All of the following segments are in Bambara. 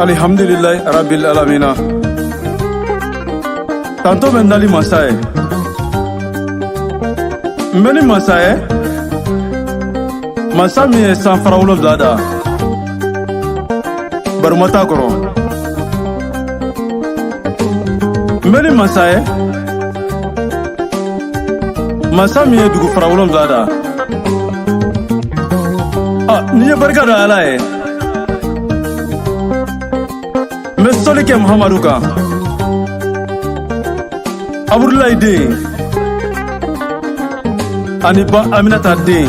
alihamdulilayi rabil alamina tanto bɛ n dali masa ye n bɛ ni masa ye masa min ye san fara wolonwula da barima t'a kɔrɔ n bɛ ni masa ye masa min ye dugu fara wolonwula da ah, ni n ye barika da ala ye n bɛ sɔli kɛ muhamadu kan abudulayi den ani ba aminata den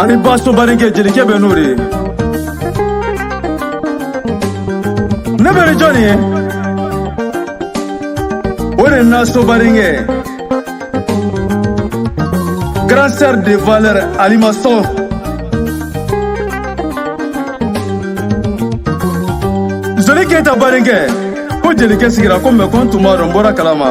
ani baso badenkɛ jelikɛ bɛ n'o de ye ne bɛ ni jɔn ye o de naso badenkɛ grand sœur de valeur alimason zoni keyita badenkɛ ko jelikɛ sigira ko mɛ ko n tun m'a dɔn n bɔra kalama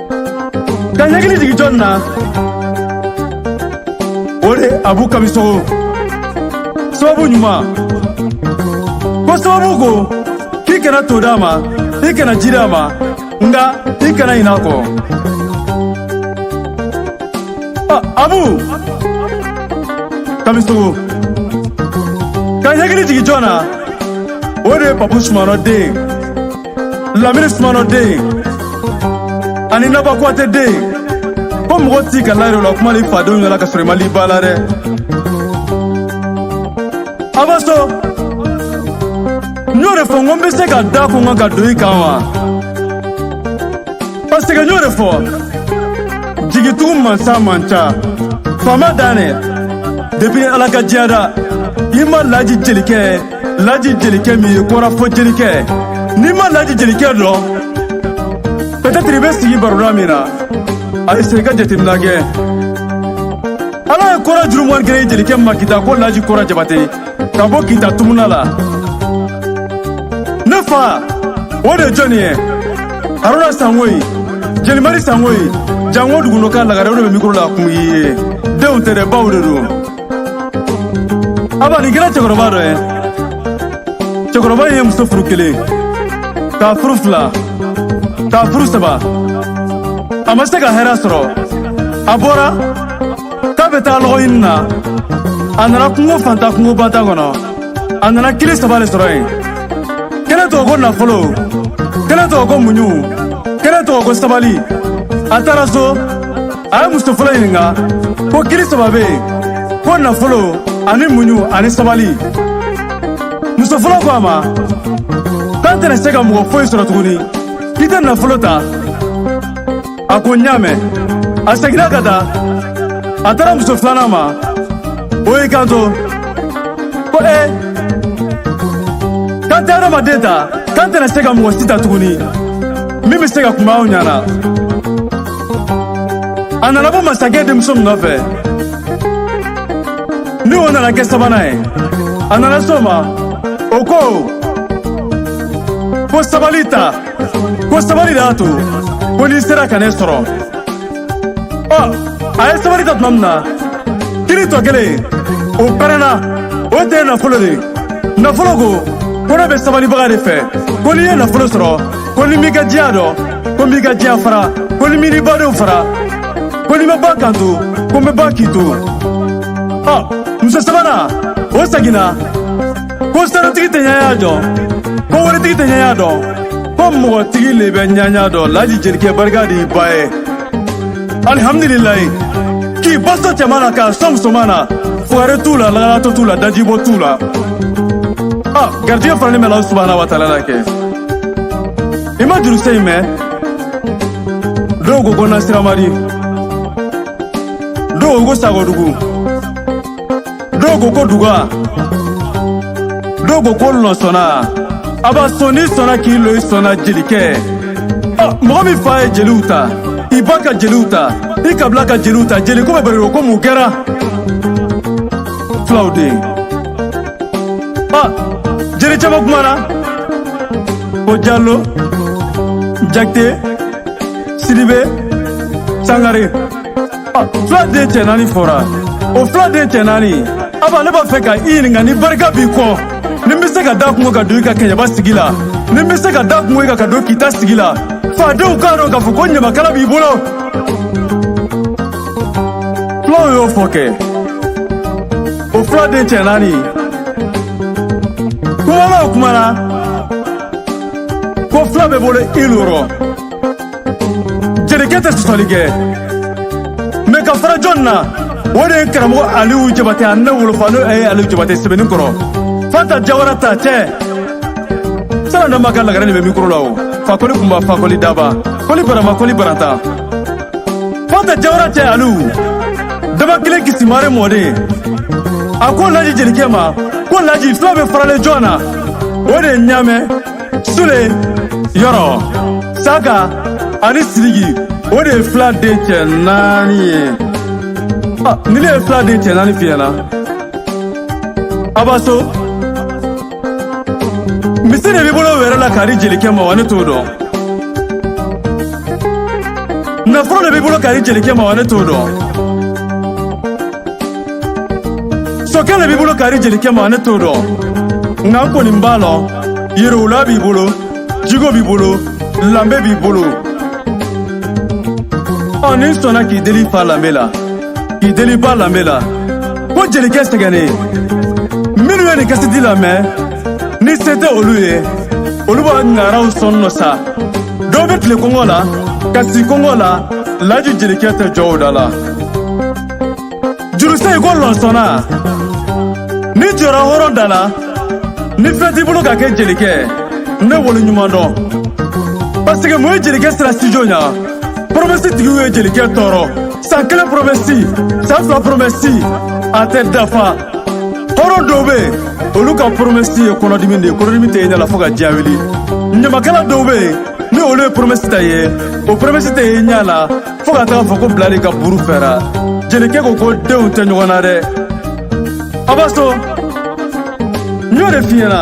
ka n hakili jigi jɔn na o de abu kamisogo sababu ɲuman ko sababu ko k'i kana to d'a ma i kana ji d'a ma nka i kana ɲin'a kɔ abu kamisogo ka n hakili jigi jɔn na o de papu sumanɔ den lamini sumano den ani naba kuwatɛ den ko mɔgɔ t'i ka layiri la kuma ni fadenw ɲɛ la ka sɔrɔ i ma l'i ba la dɛ abaso n y'o de fɔ n ko n bɛ se ka da kun kan ka don i kan wa paseke n y'o de fɔ jigitugu mansa man ca faama dan dɛ depuis ala ka diɲɛ da i ma laji jelikɛ laji jelikɛ min ye kora fɔ jelikɛ n'i ma laji jelikɛ dɔn pɛtɛtiri i bɛ sigi baroda min na a ye se ka jateminɛ kɛ ala ye kora juru muwan ni kelen jelikɛ ma kita ko laji kora jabate ka bɔ kita tumuna la ne fa o de jɔni ye haruna sangoyi jelimari sangoyi jango duguno ka lagare o de bɛ mikoro la kun ye denw tɛ dɛ baw de don aba nin kɛra cɛkɔrɔba dɔ ye cɛkɔrɔba ye muso furu kelen k'a furu fila k'a furu saba a ma se ka hɛrɛ sɔrɔ a bɔra k'a bɛ taa lɔgɔ ɲini na a nana kungo fanta kungo banta kɔnɔ a nana kili saba le sɔrɔ yen kelen tɔgɔ ko nafolo kelen tɔgɔ ko muɲu kelen tɔgɔ ko sabali a taara so a ye muso fɔlɔ ɲininka ko kili saba bɛ yen ko nafolo ani muɲu ani sabali muso fɔlɔ ko a ma k'an tɛna se ka mɔgɔ foyi sɔrɔ tuguni k'i tɛ nafolo ta a ko n y'a mɛn a seginna ka taa a taara muso filanan ma o y'i kanto ko ee k'an tɛ adamaden ta k'an tɛna se ka mɔgɔ si ta tuguni min bɛ se ka kuma aw ɲana a nana bɔ masakɛ denmuso min nɔfɛ ni o nana kɛ sabanan ye a nana s'o ma o ko ko sabali ta ko sabali de y'a to ko n'i sera ka ne sɔrɔ ɔ a ye sabali ta tuma min na kili tɔ kelen o pɛrɛnna o tɛ nafolo de nafolo ko ko ne bɛ sabalibaga de fɛ ko n'i ye nafolo sɔrɔ ko ni m'i ka diya dɔn ko n b'i ka diya fara ko ni m'i ni badenw fara ko n'i ma ban ka n to ko n bɛ ban k'i to ɔ muso sabanan o seginna ko sanutigi tɛ ɲɛɲa dɔn ko waritigi tɛ ɲɛɲa dɔn ko mɔgɔtigi le bɛ ɲɛɲa dɔn laji jelikɛ barika d'i ba ye alihamdulilayi k'i ba sɔn cɛman na k'a sɔn musoman na fugari t'u la lagalatɔ t'u la dajibɔ t'u la ɔ garijɛgɛ faralen bɛ Ala subahana wa taala la kɛ i ma juru sen in mɛn dɔw ko ko nasiramadi dɔw ko sagodugu dɔw ko ko duga dɔw ko ko lɔnsɔnna a b'a sɔn n'i sɔnna k'i lo i sɔnna jelikɛ mɔgɔ min fa ye jeliw ta i ba ka jeliw ta i kabila ka jeliw ta jeliko bɛ bari ko mun kɛra fulaw den jeli caman kumana ko Diallo Jakite Sidibe Sangare ah, fula den cɛ naani fɔra o fula den cɛ naani aba ne b'a fɛ ka i ɲininka ni barika b'i kɔ ni n bɛ se ka da kungo ka don i ka kɛɲɛba sigi la ni n bɛ se ka da kungo i ka ka don Kita sigi la fadenw k'a dɔn k'a fɔ ko ɲamakala b'i bolo fulaw y'o fɔ kɛ o fula den cɛ naani kumalaw kumana ko fula bɛ bolo i lorɔ jelikɛ tɛ sɔsɔli kɛ mɛ ka fara jɔn na o de ye karamɔgɔ aliyu jabate a ne wolofa n'o ye aliyu jabate sɛbɛnni kɔrɔ fanta jawara ta cɛ sara dama ka lagare de bɛ mikoro la o fakoli kunba fakoli daba koli barama koli baranta fanta jawara cɛ alu daba kelen kisi mare mɔden a ko laji jelikɛ ma ko laji fula bɛ faralen jɔn na o de ye ɲamɛ sule yɔrɔ saka ani sidiki o de ye fila den cɛ naani ye ni ne ye fila den cɛ naani f'i ɲɛna a b'a so misi de b'i bolo wɛrɛ la k'a di jelikɛ ma wa ne t'o dɔn nafolo de b'i bolo k'a di jelikɛ ma wa ne t'o dɔn sokɛ de b'i bolo k'a di jelikɛ ma wa ne t'o dɔn nka n kɔni b'a lɔn yiriwula b'i bolo jigo b'i bolo lanbe b'i bolo ɔ ni n sɔnna k'i deli fa lanbe la k'i deli ba lanbe la ko jelikɛ sɛgɛnnen minnu ye nin kasɛti lamɛn ni se tɛ olu ye olu b'a ŋaraw sɔn nɔ sa dɔw bɛ tile kɔngɔ la ka si kɔngɔ la laji jelikɛ tɛ jɔ o da la jurusɛ i ko lɔnsɔnna ni jɔra hɔrɔn da la ni fɛn t'i bolo ka kɛ jelikɛ ne wolo ɲuman dɔn paseke mun ye jelikɛ sira sijo ɲa promɛsi tigiw ye jelikɛ tɔɔrɔ san kelen promɛsi san fila promɛsi a tɛ dafa hɔrɔn dɔw bɛ yen olu ka promɛsi ye kɔnɔdimi de ye kɔnɔdimi tɛ ye ɲɛ la fo ka diya wuli ɲamakala dɔw bɛ yen ni olu ye promɛsi ta ye o promɛsi tɛ ye ɲɛ la fo ka taga fɔ ko bilali ka buru fɛra jelikɛ ko ko denw tɛ ɲɔgɔn na dɛ a b'a sɔn n y'o de f'i ɲɛna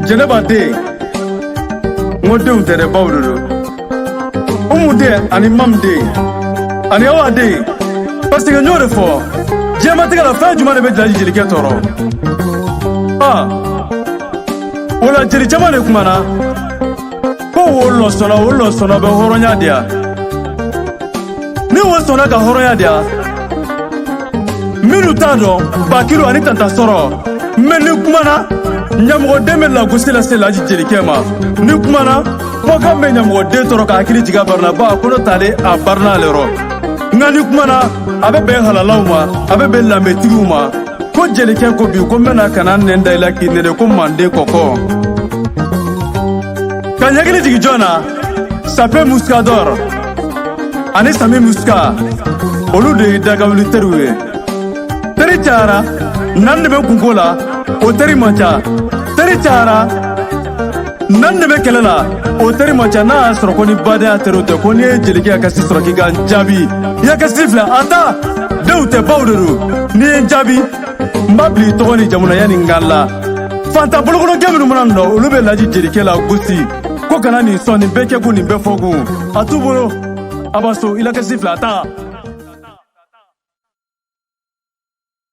jɛnɛba den n ko denw tɛ dɛ baw de don umu den ani mamu den ani awa den paseke n y'o de fɔ diɲɛmatigɛ la fɛn jumɛn de bɛ laji jelikɛ tɔɔrɔ a o la jeli caman de kumana ko wo lɔnsɔnna wo lɔnsɔnna bɛ hɔrɔnya diya ni wo sɔnna ka hɔrɔnya diya minnu t'a dɔn bakiru ani tanta sɔrɔ mɛ ni kumana ɲɛmɔgɔden bɛ lagosi lase laji jelikɛ ma ni kumana kumakan bɛ ɲamɔgɔden tɔɔrɔ ka hakili jigin a barina ba a kolo tale a barina ale yɔrɔ nka ni kuma na a bɛ bɛn halalaw ma a bɛ bɛn lanbetigiw ma ko jelikɛ ko bi ko n bɛna ka na nɛn da i la k'i nɛnɛ ko manden kɔkɔ ka ɲɛkili jigin jɔn na sape muskadɔr ani sami muska olu de ye dagawuli teriw ye teri cayara na n dɛmɛ kunko la o teri man ca teri cayara na n dɛmɛ kɛlɛ la o teri man ca n'a y'a sɔrɔ ko ni badenya teriw tɛ ko n'i ye jelikɛ kasi sɔrɔ k'i ka n jaabi i la kasi filɛ a ta denw tɛ baw de don n'i ye n jaabi n b'a bila i tɔgɔ ni jamu na yanni n ka la fanta bolokolokɛ minnu mana na olu bɛ laji jelikɛ la gosi ko kana nin sɔn nin bɛɛ kɛ kun nin bɛɛ fɔ kun a t'u bolo a b'a so i la kasi filɛ a ta